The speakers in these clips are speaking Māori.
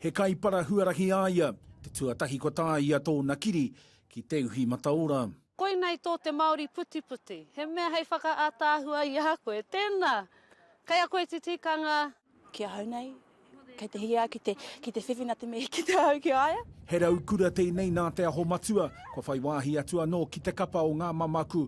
He kaipara huarahi a ia, te tuatahi kua tāia tōna kiri ki Te Uhi Mataora. Koinei tō te Māori putiputi, he mea hei whakaataahua i a koe. Tēnā! Kei a koe te tikanga. Ki ahau nei, kei te hiahia ki te, ki te whiwhi nā te mihi ki te hau ki a ia. He raukura tēnei nā Te Aho Matua, kua whai wāhi atu anō ki te kapa o ngā mamaku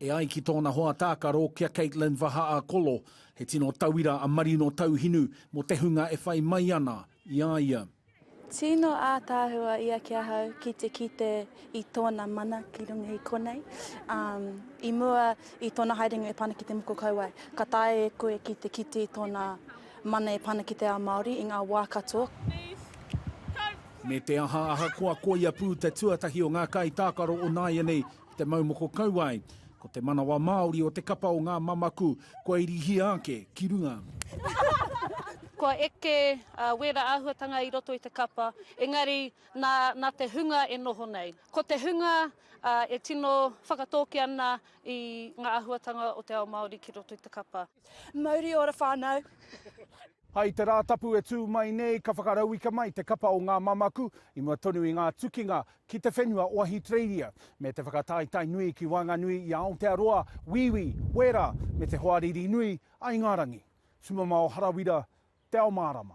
E ai ki tōna hoa tākaro, ki a Kaitlyn Vahaakolo, he tino tauira a Marino Tauhinu mō te hunga e whai mai ana i a ia. Tino ātaahua ia ki ahau ki te kite i tōna mana ki runga i konei. I mua i tōna haerenga e pā ana ki te moko kauae, ka taea e koe ki te kite i tōna mana e pā ana ki te ao Māori i ngā wā katoa. Me te aha, ahakoa koia pū te tuatahi o ngā kaitākaro o nāianei, Ki te mau moko kauae, ko te manawa Māori o te kapa o ngā mamaku kua irihia ake ki runga. Kua eke wēra āhuatanga i roto i te kapa, engari nā, nā te hunga e noho nei. Ko te hunga e tino whakatōki ana i ngā āhuatanga o te ao Māori ki roto i te kapa. Mauri ora whanau. I te Rātapu e tū mai nei ka whakarauika mai te kapa o ngā mamaku i mua tonu i ngā tukinga ki te whenua o Ahitereiria, me te whakataetae nui ki waenganui i a Aotearoa, Wīwī, Wēra, me te hoariri nui a Ingarangi. Tumamao Harawira, Te Ao Mārama.